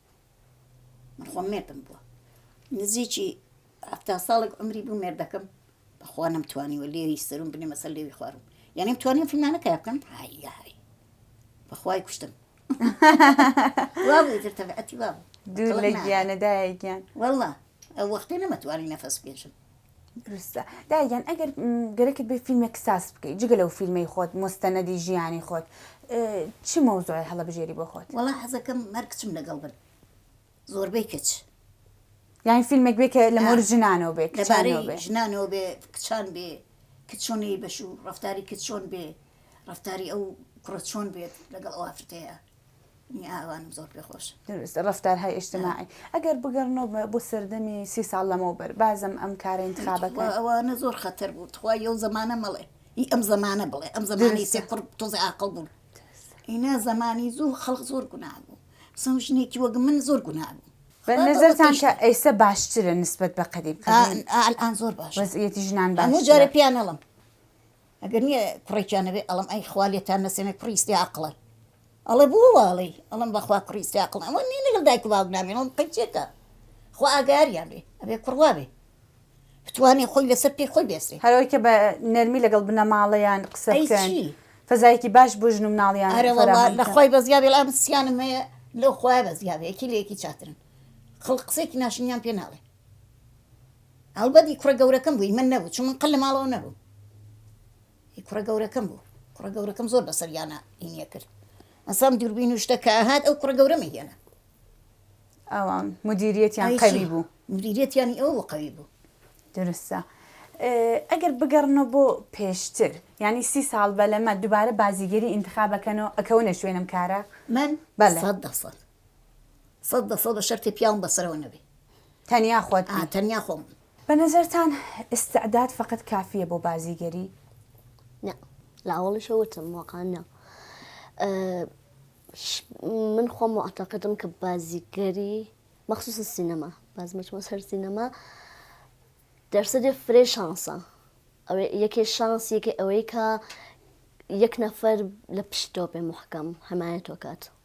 من خۆم مێردم بووە نزیکی هەفتا ساڵێک عمری بوو مێردەکەم بەخوا نەمتوانیوە لێوی سەرم بنێ مەسە لێوی خوارم یانیم توانیم فیلمانەکە بکەم هاهای بەخوای کوشتم دوور لە گیانەدایە گیان وەڵا ئەو وەختی نەمەتوانی نەفەس بێژم دروستە دایگیان ئەگەر گەرەکت بێ فیلمێک ساز بکەیت جگە لەو فیلمەی خۆت مستەنەدی ژیانی خۆت چ مەوزوعی هەڵە بژێری بۆ خۆت وڵا حەزەکەم هەر کچم لەگەڵ بن زۆربەی کچ یان فیلمێک بێ کە لە مۆر ژنانەوە بێ لەبارەی ژنانەوە بێ کچان بێ کچ چۆنی بەش و ڕفتاری کچ چۆن بێ ڕفتاری ئەو کوڕە چۆن بێت لەگەڵ ئەو ئافرەتەیە ئاوانم زۆر پێ خۆش دروست ڕفتار های ئشتماعی ئەگەر بگەڕنەوە بۆ سەردەمی سی ساڵ لەمەوە بەر بازم ئەم کارە انتخابەکە ئەوانە زۆر خەتەر بوو تخوا یو زمانە مەڵێ ئی ئەم زمانە بڵێ ئەم زمانی سێ قڕ تۆزی ئاقڵ بوون ئینا زمانی زوو خەڵق زۆر گونا بوو سم ژنێکی وەگە من زۆر گونا بوو بە نظرتان کە ئەیسە باشترە نسبت بە قەدیم ئەلان زۆر باش وەزعیەتی ژنان باش جارە پیانەڵم ئەگەر نیە کوڕێکیان نەبێ ئەڵێم ئەی خوا لێتان نەسێنێ کوڕی سپێ عەقڵە ئەڵێ بۆ وا ئەڵێی ئەڵێم بەخوا کوڕی سپێ عەقڵە ئەوە نیە لەگەڵ دایک و باوک نامێنێ ئەوە قەیچێکە خوا ئاگایاریان بێ ئەبێ کوڕ وا بێ بتوانێ خۆی لەسەر پێی خۆی بێسێ. هەر ئەوەی کە بە نەرمی لەگەڵ بنەماڵەیان قسە بکەن. ئەی چی؟ فەزایەکی باش بۆ ژن و مناڵیان فەراهەم بکەن. ئەرێ وەڵا لە خوای بەزیا بێ ئەم سیانم هەیە لەو خوایە بەزیا بێ یەکی لە یەکی چاترن خەڵک قسەیەکی ناشرینیان پێ ناڵێ. ئەڵبەت هی کوڕە گەورەکەم بوو هی من نەبوو چون من قەت لە ماڵەوە نەبووم هی کوڕە گەورەکەم بوو کوڕە گەورەکەم زۆر بەسەریانا هینی ئەکرد مەسام دووربین و شتە کە ئەهات ئەو کوڕە گەورەم ئەهێنا ئەوان مدیریەتیان ئای چی؟ قەوی بوو مدیریەتیانی ئەوە بۆ قەوی بوو درستە ئێ، ئەگەر بگەڕنەوە بۆ پێشتر یانی سی ساڵ بەلەمە دوبارە بازیگەری ئینتخابەکەنەوە ئەکەونە شوێنم کارە من بەلێ. سەد دەسەد سەد بە سەد بە شەرتێ پیاوم بە سەرەوە نەبێ تەنیا خۆت بی. ئا تەنیا خۆم بم. بە نەزەرتان ئیستعداد فەقەت کافییە بۆ بازیگەری؟ نا لە ئەوەڵیشە وتم واقعەن نا من خۆم موعتەقدم کە بازیگەری مەخصوصن سینەما باز مەچمە سەر سینەما دەرسەدێ فرێ شانسە ئەوێ یەکێ شانس یەکێ ئەوەی کە یەک نەفەر لە پشتۆ بێ محکەم حمایەتۆ کات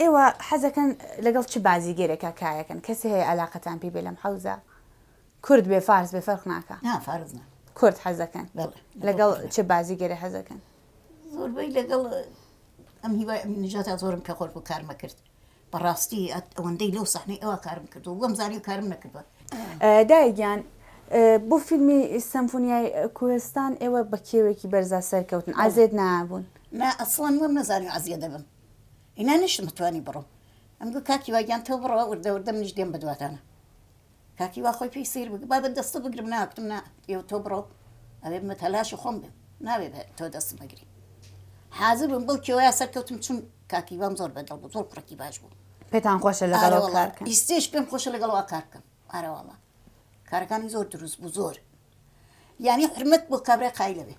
ئێوە حەزەکەن لەگەڵ چ بازیگەرێکا کارەکەن کەسێ هەیە ئەلاقەتان پێی بێ لەم حەوزە کورد بێ فارس بێ فەرق ناکا نا فارس نا کورد حەزەکەن بەڵێ لەگەڵ چ بازیگەرێ حەزەکەن زۆربەی لەگەڵ ئەم هیوای ئەمین نژاتا زۆرم کە خۆش بوو کارمە کرد بەڕاستی ئەت ئەوەندەی لەو سەحنەی ئەوە کارم کردو وەم زانی و کارم نەکردوە دایە گیان بۆ فیلمی سەمفونیای کوهستان ئێوە بە کێوێکی بەرزا سەرکەوتن عەزێت نابوون نا ئەسڵەن وەم نەزانی عەزیە دەبم ئینا نەشتم توانی بڕۆم ئەم گوت کاک هیوا گیان تۆ بڕۆ وردە وردە منیش دێم بە دواتانا کاک هیوا خۆی پێی سەیر بوو با بە دەستە بگرم نا گوتم نا ئێوە تۆ بڕۆ ئەبێ بە تەلاشی خۆم بێم ناوێ بە تۆ دەستم بگری حازر بووم بەو کێوەیە سەرکەوتم چون کاک هیوام زۆر بەدڵ بوو زۆر کوڕێکی باش بوو پێتان خۆشە لەگەڵ ئارە ئەو وەڵا کار بکەن ئیستێش پێم خۆشە لەگەڵ ئەوە کار بکەم ئارە وەڵا کارەکانی زۆر دروست بوو زۆر یانی حورمەت بۆ کابرای قایلە بێ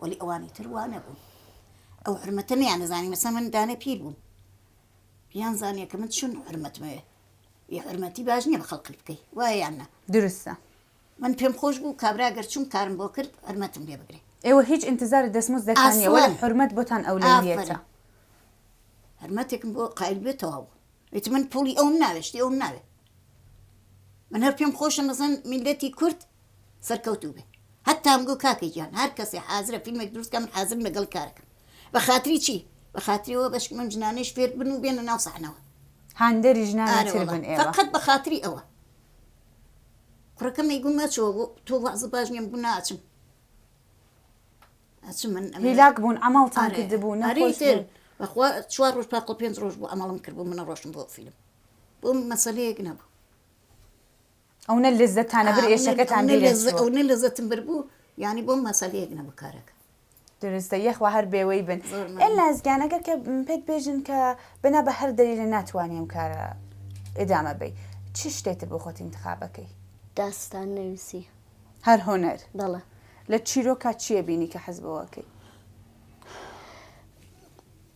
وەلی ئەوانی تر وا نەبوون ئەو حورمەتە نەیانەزانی مەسە من دانێ پیر بوون یان زانیە کە من چون حورمەتمەوێ یە حورمەتی باش نییە بە خەڵقت بکەی وایە یان نا دروستە من پێم خۆش بوو کابرا گەر چون کارم بۆ کرد حورمەتم لێ بگرێ ئێوە هیچ انتظار دەستموز دەتان نیە وەلی ئەسڵەن. حورمەت بۆتان ئەولەویەتە ئافەرین. حرمەتێکم بۆ قایل بێ تەواو بوو ئیتر من پوڵی ئەوم ناوێ شتی ئەوم ناوێ من هەر پێم خۆشە مەزەن میلەتی کورد سەرکەوتوو بێ هەتام گو کاکە گیان هەر کەسێ حازرە فیلمێک دروست کە من حازرم لەگەڵ کارەکەم بە خاتری چی بە خاتریەوە بەشک من جنانێش فێر بن و بێنە ناو سەحنەوە هاندەری ژنانی تر بن ئێوە فقط بە خاتری ئەوە کوڕەکەمی گو مەچەوە بۆ تۆ وازە باش نیم گو ناچم ئەچم من هیلاک بوون ئەمەڵتان کردبوو نەریتر بەخوا چوار ڕۆژ پاقل پێنج ڕۆژ بوو ئەمەڵم کرد بوو منە ڕۆشن بۆ فیلم بۆم مەسەلەیەک نەبوو ئەونە لەزەتانە بر ئێشەکەتان ئەونە لەزەتم بر بوو یعنی بۆم مەسەلەیەک نەبوو کارەکە درستە یەخوا هەر بێوەی بن ئەل لازگانەگەر کە پێت بێژن کە بنا بە هەر دەری لە ناتوانانی ئەم کارە ئێدامە بی چ شتێتر بۆ خۆت انتخابەکەی داستان نووسی هەر هۆنەر بەڵە لە چیرۆکە چیە بینی کە حەزبەوەکەی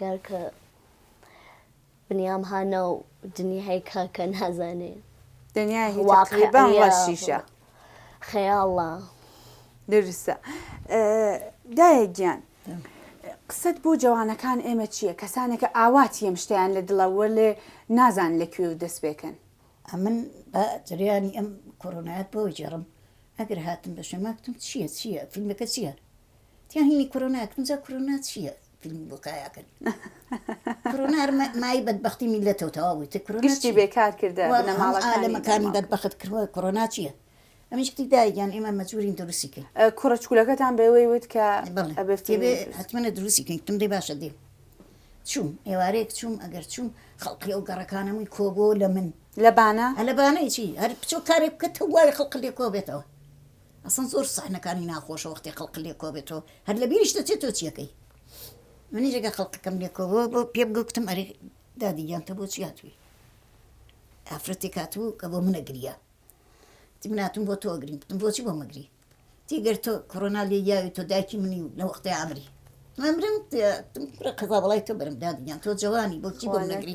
گەر کە بنیام ها ناو دنیای کە کە نازانێ دنیای واقعیە شیشە خەیاڵە درسە دایە گیان قسەت بۆ جوانەکان ئێمە چییە کەسانێکە ئاوات یەم شتیان لە دڵەوە لێ نازان لە کوێ و دەست پێکەن ئەمن بە جریانی ئەم کۆرۆنایەت بۆ جێڕم ئەگەر هاتم بە شەماکتم چییە چییە فیلمەکە چییە تیاهینی کۆرۆناکتم جا کۆرۆنا چییە فیلمی بۆ کایا کرد کرونا هەر مای بەدبختی میلەتەوە تەوا بووی گشتی بێکار کردە لەمەکانی بەدبخت کردوە کۆنا چییە؟ ئەمیش کتی دایگەیان ئێمە مەجبورین دروستی کرد کوڕچکولەکەتان بەوەی وت کە حتممە دروستی کرد تم دەی باشە دێ چوم ئێوارەیەک چوم ئەگەر چوم خەڵقی ئەو گەڕەکانەمووی کۆبۆ لە من لەبانە لەبانەی چی هەر بچۆ کارێک بکە تەوای خەڵق لێ کۆ بێتەوە ئەسڵەن زۆر سەحنەکانی ناخۆشە وەختی خەڵق لێکۆبێتەوە هەر لەبیریش دەچێت تۆ چیەکەی منیش ئەگەر خەڵکەکەم لێکۆبوو پێم گوتم ئەرێ دادی گیان تۆ بۆچی هاتووی ئافرەتێک هاتوو کە بۆ منە گریا تی من هاتووم بۆ تۆ گرین گوتم بۆچی بۆ مەگری تیگەر تۆ کۆرۆنا لێ یاوی تۆ دایکی منی و لە وەختی ئامری مەمرم کوڕە قەزا بەڵای تۆ بەرم دادی گیان تۆ جەوانی بۆچی بۆ منە گری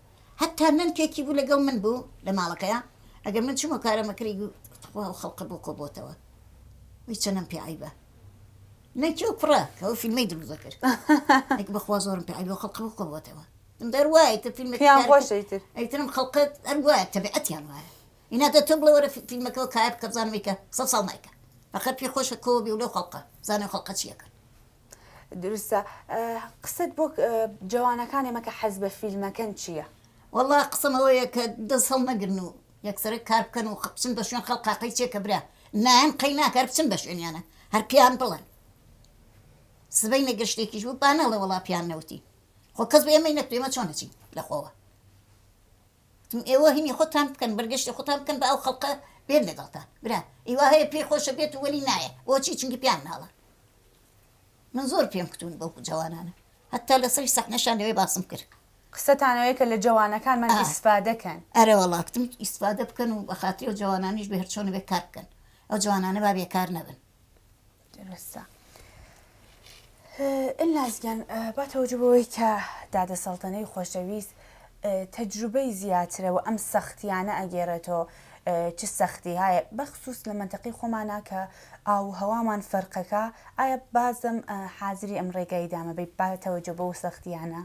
هەتا نەنکێکی بوو لەگەڵ من بوو لە ماڵەکەیا ئەگەر من چومە کارەمە کری گوو تخوا ئەو خەڵقە بۆ کۆ بۆتەوە وەی چەنەم پێ عەیبە نەنکی ئەو کوڕە کە ئەو فیلمەی دروست دەکرد ئەک بەخوا زۆرم پێ عەیبە ئەو خەڵقە بۆ کۆ بۆتەوە من دەر وایە کە فیلمێکی پێیان کار خۆشە کرد ئیتر ئەیترم خەڵقە هەر وایە تەبیعەتیان وایە ئینا دە تۆ بڵێ وەرە فی فیلمەکەوە کایە بکە بزانم ئیکە سەد ساڵ نایکا فەقەت پێ خۆشە کۆ بی و لەو خەڵقە بزانێ ئەو خەڵقە چیەکەن دروستە قسەت بۆ جەوانەکانێ مەکە حەز بە فیلمەکەن چییە؟ وەڵا قسەم ئەوەیە کە دەست هەڵنەگرن و یەکسەرە کار بکەن و بچن بە شوێن خەڵکا قەی چێکە برا نایەن قەی ناکەر بچن بە شوێنیانە هەر پێیان بڵێن سبەینە گەر شتێکیش بوو با نەڵێ وەڵا پێیان نەوتین خۆ کەس بە ئێمەی نەکرد ئێمە چۆن نەچین لە خۆوە تم ئێوە هینی خۆتان بکەن بەرگەشتی خۆتان بکەن بە ئەو خەڵقە بێت لەگەڵتان برا ئیوا هەیە پێی خۆشە بێت و وەلی نایە بۆچی چونکی پیان مناڵە من زۆر پێم کتون بەو جوانانە هەتا لەسەری سەحنەشان لەوێ باسم کرد قسەتانەوەی کە لە جوانەکانمان ئیسفادەکەن ئەرە وڵا کتم ئیسفادە بکەن و بە خاتری و جوانانیش بە هەرچۆنە بێ کار بکەن ئەو جوانانە با بێکار نەبن درەستە ئلناز گیان با تەوجە بەوەی کە دادە سەڵتەنەی خۆشەویست تەجروبەی زیاترە و ئەم سەختیانە ئەگێڕێتەوە چ سەختی هاە بەخصوص لە منتەقی خۆمانە کە ئاو هەوامان فەرقەکە ئایا بازم حازری ئەم ڕێگای دامەبی باتەوەجە بەو سەختیانە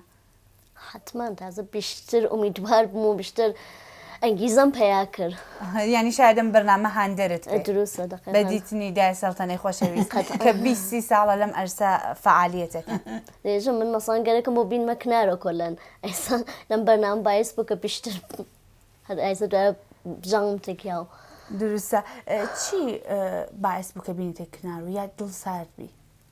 حەتمان تازە بیشتر ئومیدوار بووم و بیشتر ئەنگیزەم پەیا کرد. یانی شایەد ئەم بەرنامە هاندەرت کرد. دروستە دەقیقەن. بە دیتنی دایە سەڵتەنەی خۆشەویست قەتعەن. کە بیست سی ساڵە لەم عەرسە فەعالیەت ئەکەن. بێژم من مەسەڵەن گەرەکم بۆ بینمە کنارۆ کۆلەن ئێستا لەم بەرنامە بایس بوو کە بیشتر هەر ئایسە دوایە بژاوم تکیا و. دروستە چی بایس بوو کە بینیتە کنارۆ یا دڵ سارد بی؟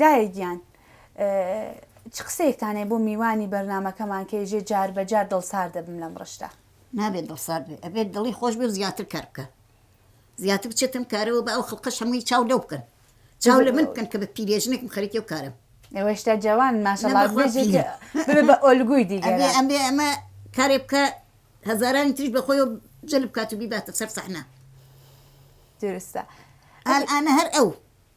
دایە گیان چ قسەیەکتان هەیە بۆ میوانی بەرنامەکەمان کە یەژێ جار بە جار دڵسار دەبم لەم ڕشتە. نابێت دڵسارد بێت ئەبێت دڵی خۆش بێ و زیاتر کار بکا زیاتر بچێت ئەم کارەوە با ئەو خڵقەش هەمووی چاو لەو بکەن چاو لە من بکەن کە بە پیرێژنێکم خەریکی و کارم ئێوە هێشتا جەوان ماشەڵڵا بێژێ بە ئۆلگوی دیگەرە ئەبێ ئەمە کارێ بکە هەزارانی تریش بەخۆی و جل بکات و بیباتە سەر سەحنا درستە ئەلئانە هەر ئەو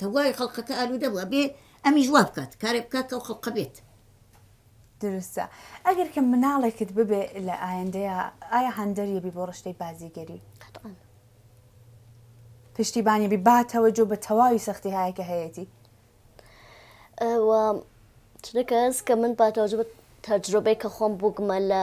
تەواوی خەڵقەکە ئالوودە بوو ئەبێ ئەمیش وا بکات کارێک بکات کە ئەو خەڵقە بێت. دروستە ئەگەر کە مناڵێکت ببێ لە ئایندەیە ئایا هەندەریە بی بۆ ڕشتەی بازیگەری قەتعەن پشتیبانی بی باتەوە جۆ بە تەواوی سەختی هایە کە هەیەتی ئەوە چونەکەس کە من باتەوە جبت تەجربەی کە خۆم بووگمە لە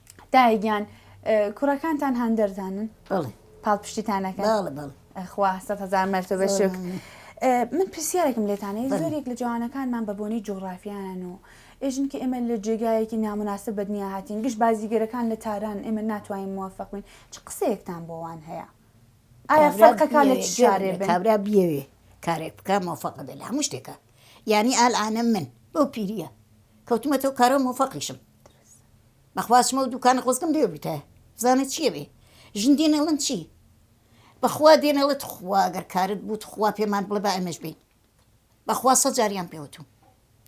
دایە گیان کوڕەکانتان هەندەردانن بەڵێ پاڵپشتیتانەکە بەڵێ بەڵێ خوا سەد هەزار مەرتەبە شک من پرسیارێکم لێتانەیە زۆرێک لە جوانەکانمان بە بۆنەی جۆغرافیانن و ئێژن کە ئێمە لە جێگایەکی نامناسب بە دنیا هاتین گشت بازیگەرەکان لە تاران ئێمە ناتوانین موفق بین چ قسەیەکتان بۆوان هەیە ئایا فەرقەکە لە شارێ کابرا بیەوێ کارێک بکە موفق بێ لە هەموو شتێکە یعنی ئالانە من بەو پیریە کەوتمەتەوە کارە موفقیشم بەخوا چمە و دووکانە خۆزگەم لێ بوویتایە بزانە چییە بێ ژن دێنە ئەڵێن چی بەخوا دێنە ئەڵێ تخوا گەر کارت بوو تخوا پێمان بڵێ با ئێمەش بین بەخوا سەد جاریان پێوتوم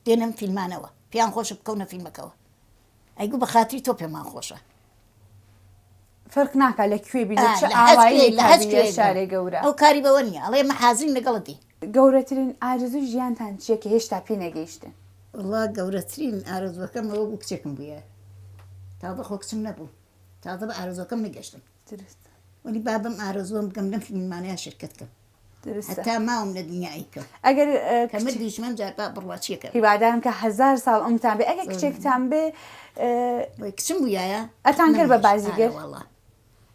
دێنم فیلمانەوە پێیان خۆشە بکەونە فیلمەکەوە ئەی گوو بە خاتری تۆ پێمان خۆشە فەرق ناکە لە کوێ بی لە چ لە هەست ئاوایی کوێ لە هەست کابی کوێ لە شارێ گەورە ئەو کاری بەوە نییە ئەڵێ من حازرین لەگەڵت بی گەورەترین ئارزوی ژیانتان چییە کە هێشتا پێی نەگەیشتن وەڵا گەورەترین ئارەزووەکەم ئەوە بوو کچێکم بووە تازە خۆ کچم نەبوو تازە بە ئارەزوەکەم نەگەشتم دروست وەلی با بەم ئارەزووەم بگەم لەم فیلمانەیان شرکەت کەم هەتا ماوم لە دنیا ئەیکەم ئەگەر کە مردیش من جار با بڕوا چیەکە هیوادارم کە هەزار ساڵ ئەمتان بێ ئەگەر کچێکتان بێ کچم بوویایە ئەتان کرد بە بازیگەر وڵا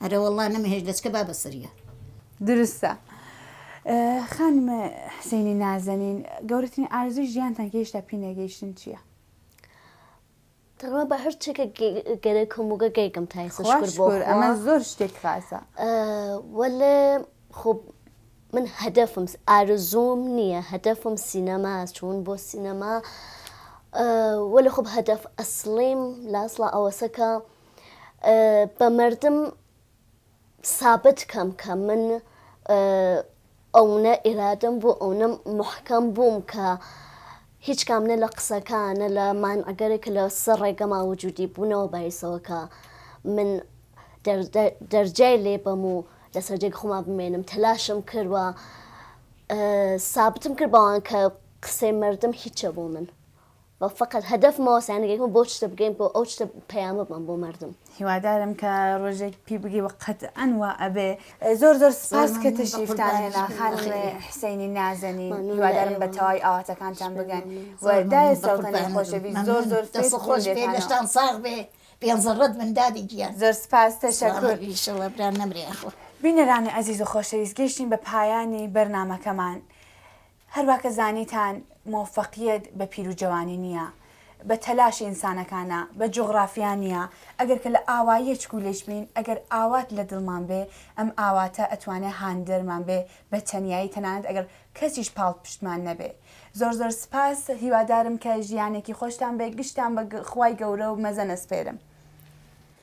ئەرە وڵا نەمەهێش دەچکە با بەسەریە درستە. خانم حسینی نازەنین گەورەترین ئارزوی ژیانتان گەیشتا پینەگەیشتن چییە؟ تەنها بە هەر چێکە گەرێ کۆموگە گەیگم تایسە خوا شکر بۆ شکر خوا ئەمە زۆر شتێک خاسە ئە، وەلێ خۆ من هەدەفم س- ئارەزووم نییە هەدەفم سینەما چوون بۆ سینەما ئە، وەلێ خۆ هەدەف ئەسڵیم لە ئەسڵا ئەوەسە کە ئە، بە مەردم، سابت کەم کە من ئەونە ئیرادەم بوو ئەونە محکەم بووم کە هیچ کام نە لە قسەکان نە لە مانعگەرێک کە لە سەر ڕێگەما وجودی بوونەوە بایسەوە کە من دەرجای لێ بەم و لەسەر جێگ خۆما بمێنم تەلاشم کردوە سابتم کرد بەوان کە قسەی مردم هیچە بۆ من بەڵ فەقەت هەدەف مەوە سەیان گەی کم بۆ شتە بگەین بۆ ئەو شتە پەیامە بەم بۆ مەردم. هیوادارم کە ڕۆژێک پی بگی وە قەتئەن وا ئەبێ. زۆر زۆر سپاس کە تەشریفتان هێنا خانم حسینی نازەنین هیوادارم بە تەواوی ئاواتەکانتان بگەن و دایە سەوتەنێ خۆشەویست زۆر زۆر سپاس دەست خۆش بێ لەشتان ساغ بێ پێنج زەڕەت بن دادی گیان. زۆر سپاس تەشەکور. ئیشەڵا برا نەمرێ یاخوا. بینەرانی ئەزیز و خۆشەویست گەیشتین بە پایانی بەرنامەکەمان هەروا کە زانیتان مۆفەقیەت بە پیرو جەوانی نیە بە تەلاشی ئینسانەکانە بە جوغڕافیا نیە ئەگەر کە لە ئاواییە چکولیچ بین ئەگەر ئاوات لە دڵمان بێ ئەم ئاواتە ئەتوانێ هاندەرمان بێ بە تەنیایی تەنانەت ئەگەر کەسیش پاڵپشتمان نەبێ زۆر زۆر سپاس هیوادارم کە ژیانێکی خۆشتان بێ گشتان بە خوای گەورە و مەزەن ئەسپێرم.